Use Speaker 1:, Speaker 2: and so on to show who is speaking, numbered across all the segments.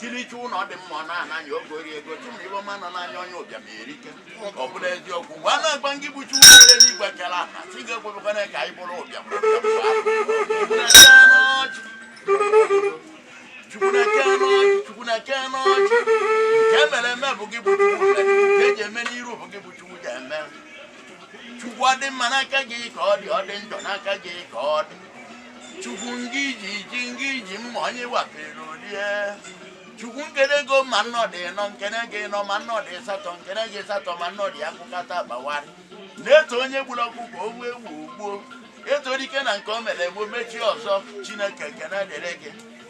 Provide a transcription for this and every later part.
Speaker 1: kirichi ụlọ dị mma ọ na-ananya oge ori ego chụmụ ibe ọma nọ n'anya onye ụbịam erike ọ bụla eziokwu mgbe a na-agba ngị bụ chukwu kere n'igwe kere ala chi ga-ekwebekwana ka anyị bụrụ ụbịam chukwu na-eke n'ọchị nke emere eme bụ gị bụ chukwu nke eji eme n'iru bụ gị bụ chukwu ga-eme chukwu ọ dị mma n'aka gị ka ọ dị ọ dị njọ n'aka gị ka ọ dị chukwu ngị ji ji ngị ji mma onye wapere o rie chukwu nkene gị ma nnọdụ ịnọ nkene gị ịnọ ma nnọdụ ịsatọ nkene gị ịsatọ ma nnọdụ ya kụkata gbawara na-eto onye gburu ọkụkọ o gbuo ewu ogbuo e too dike na nke o mere gboo mechie ọzọ chineke ekene dịrị gị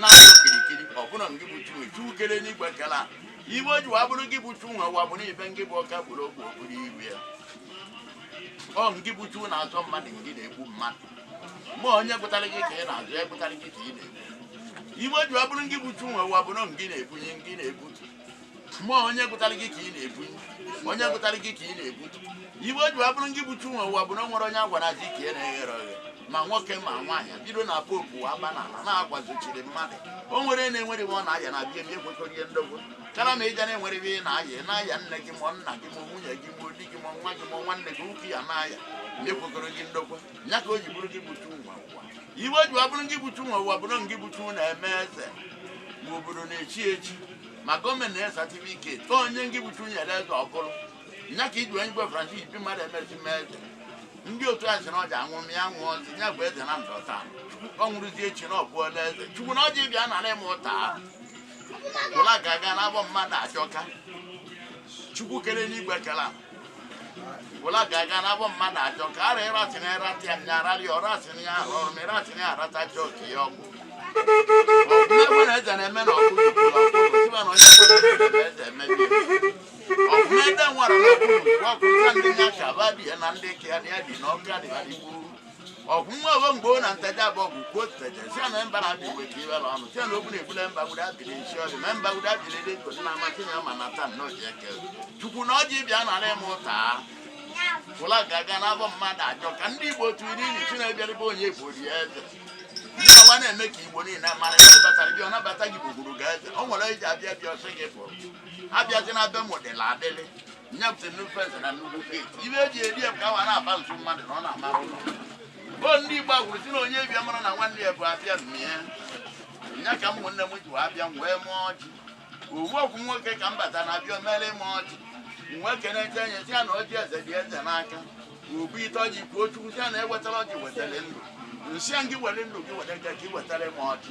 Speaker 1: na okirikiri ọ bụrụ ngị bụ chi nwe chukwu kere n'igwe kere ala ive ji wee bụrụ gị bụ chu nwe ụwa bụrụ ibe ngị bụ ọka bụrụ okwu okpuru iru ya ọ ngị bụ chu na-azọ mmadụ ngị na-egbu mmadụ mgbe onye gụtara gị ka ị na-azọ ya gụtara gị ka ị na-egbu ive ji wee bụrụ ngị bụ chu nwe ụwa bụrụ ngị na-ebunie ngị na-ebutu ma onye gụtara gị ka ị na-ebu onye gụtara gị ka ị na-ebu ive o ji wee bụrụ gị bụ chi nwe ụwa bụ na o nwere onye a gwara azụ ike ya na-eghere oghe ma nwoke ma nwaanyị bido na pope wa aba n'ala na-agwazochiri mmadụ o nwere onye na-enwere ive ọ na-aya na bie m ekwekọrọ ihe ndogbo kara ma ịja na-enwere ive ị na-aya ị na-aya nne gị ma ọ nna gị ma ọ nwunye gị ma ọ di gị ma ọ nwa gị ma ọ nwanne gị nwoke ya na-aya ma ekwekọrọ gị ndokwa ya ka o ji bụrụ gị bụ chu nwe ụwa ive ji ọ bụrụ gị bụ chu nwe ụwa bụrụ ngị bụ chu na-eme eze ma obodo na-echi echi ma gọọmenti na satifiketi tụọ onye ngị bụ chu nyere eze ọ bụrụ ya ka i ji onye igwe francis bi mmadụ emezi mee eze ndị otu a sị na ọja anwụ m ya nwụọ ọzi ya bụ eze na ndụ taa ọ nwụrụzi echi na ọ bụọla eze chukwu na ọjị bịa nara ịmụ ụta ahụ ụla ga-aga n'abọ mmadụ achọka chukwu kere n'igwe kere ala wala gaga na bo mma na jo ka re ra tini ra ti anya ra li ora tini ya ro mi ra tini ara ta jo ki yo ku o me bo na ja na me no ku ku lo ku ti ba no ya ku me ja me bi o me da wa ra ku ku ku ku ndi nya ka ba bi na ndi ki ya ni ya di no ka di ba di ku ọgwụ nwa ogo mgbe ọ na ntaja bụ ọgwụ kwuo ntaja si na mba na-abịa igwe ka iwere ọnụ si na okwu na-egbule mba guda biri nsi ọdị ma mba guda biri dị nkụ na amasị na ma na taa nnọọ ji eke chukwu na ọjị bịa nara ịmụ ụta fụla ga-aga n'abọ mmadụ ajọ ka ndị igbo tụrụ n'ilu sị na-ebiarịba onye bụ ori eze ndị awa na-eme ka igbo niile mara ndị batara bịa ọ nabata gị gbugburu ga eze o nwere e ji abịa bịa ọ sị gị pụrụ abịazi na be m dịla adịlị nya bute nnukwu eze na nnukwu steeti ive e ji eri ya ka awa na-aba nso mmadụ na ọ na-amara ụlọ o ndị igbo kwuru sị na onye bịa mara na nwanne ya bụ abịa mmie nya ka ụmụnne m ji wee abịa m wee mụọ ọjị owu ọgwụ nwoke ka m bata na abịa omere ịma ọjị m wee kenechaa nya sị ya na ọjị eze dị eze n'aka obu ite ọjị kwuo chukwu sị ya na o wetara ọjị wetara ndụ m sị ya gị were ndụ gị were ga ka ị wetara ịma ọjị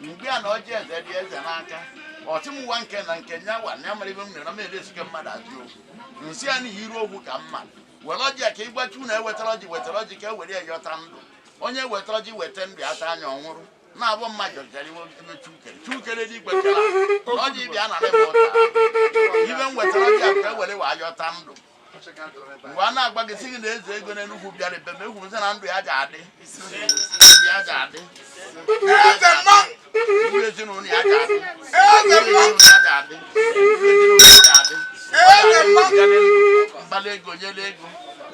Speaker 1: mgbe a na ọjị eze dị eze n'aka ọchị m nwa nke na nke nya wa nya mara ibe m na m na-edezuke mmadụ ajụ okwu nsị ya n'ihi iru okwu ka mma were ọjị ya ka ịgbachi unu ewetara ọjị wetara ọjị ka e were ya yọta ndụ onye wetara ọjị weta ndụ ya taa anya ọ nwụrụ na-abụ mma jọjara iwe ebe chukere chukere dị ikwetara na ọjị bịa na rịba ụta ibe m wetara ọjị ya ka e were ya yọta ndụ mgbe a na-agba gị si gị na eze ego n'enugwu bịara ebe ma egwuzi na ndụ ya ji adị ndụ ya ji adị eze mma ndụ ezinụlọ ya ji adị eze mma ya ji adị ezinụlọ ya ji adị eze mma mgbali ego nyere ego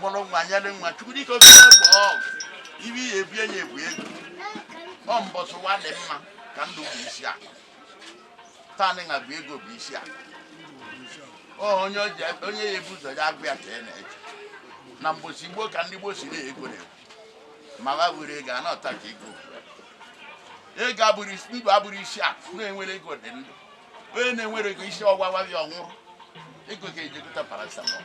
Speaker 1: mụrụ nwa nyere nwa chukwu dịka oke egbe ọgụ ibe ihe ebie nye ebu ego ọ mbọsị ụwa dị mma ka ndụ bụ isi akụ taa nị a bụ ego bụ isi akụ Ọ onye o ji ebe- onye ya ebu ụzọ ya agwa ya ka ya na-eche na mbọsị gboo ka ndị gboo si na-ego na ma ha were ego a na-ata ka ego ego abụrụ isi- ndụ abụrụ isi akụ na-enwere ego dị ndụ onye na-enwere ego isi ọ wawa ya ọ nwụrụ ego ga-eji egote paracetamol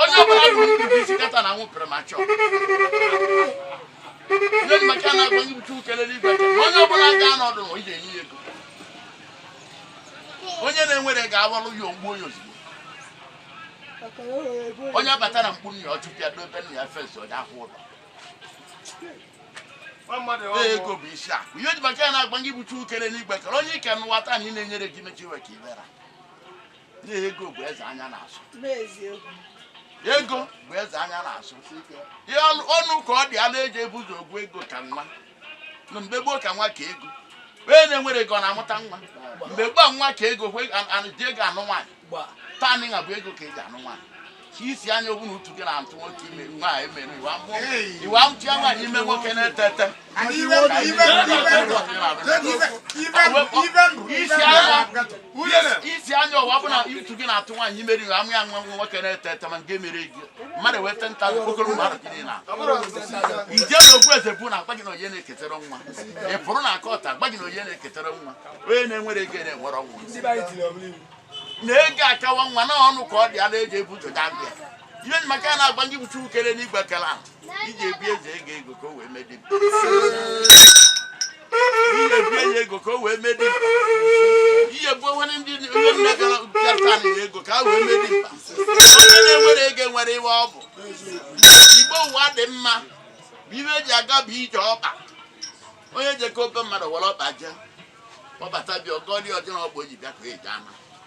Speaker 1: onye ọbụla bụ ndị isi kata na nwụpere ma chọọ ndị maka na agwa nye bụ Chukwu kele enigwe onye ọbụla ga anọdụ na ije enye ya ego onye na-enwere ga-awalụ ya ogbuo ya ozugbo onye abata na mkpu nna ya ọchụpịa dobe nna ya fesi onye ahụ ụlọ ego bụ isi akụ ihe m ji maka ya na-agwa gị bụ Chukwu kere enigwe kere onye ike n'ụwa taa na ị na-enyere gị mechi iwe ka ibera ego bụ eze anya na-asọ ego bụ eze anya na-asọ ihe ọnụ ka ọ dị ala eji ebu ụzọ ọgụ ego ka nwa na mgbe gboo ka nwa ka ego onye na-enwere ego na-amụta nwa mgbe gboo nwa ka ego dị ego anụ nwaanyị taa nịnwa bụ ego ka eji anụ nwaanyị ka isi anya ọ bụ na utu gị na-atụ nwoke ime nwaanyị mere iwe amụtụ ya nwaanyị ime nwoke na-ete ete isi anya ọ bụ na utu gị na-atụ nwaanyị imeri iwe amụ ya nwa nwoke na-ete ete ma nke mere ego mmadụ wee te nta okpokoro ụmụ ahụ gịnị na ije na ogbu eze bụ na agwa gị na onye na-eketara nwa ị pụrụ na akọta agwa gị na onye na-eketara nwa onye na-enwere ego na-enwere ọnwụ na ego akawa nwa na ọnụ ka ọ dị ala eji ebu ụzọ gaa bịa ihe m ji maka ya na-agwa ndị bụ Chukwu kele enigwe kele ahụ iji ebi eze ego ego ka o wee medi mmebie ya ego ka o wee mee dimkpa ihe bụ onwere ndị onye nne gara bịata na ya ego ka a wee mee dimkpa onye na-enwere ego nwere iwe ọ bụ gboo ụwa dị mma bụ ibe eji aga bụ ije ọkpa onye jekọ be mmadụ were ọkpa jee ọ bata bịa ọgọli ọjọọ ọgbọ ji bịa ka eji ama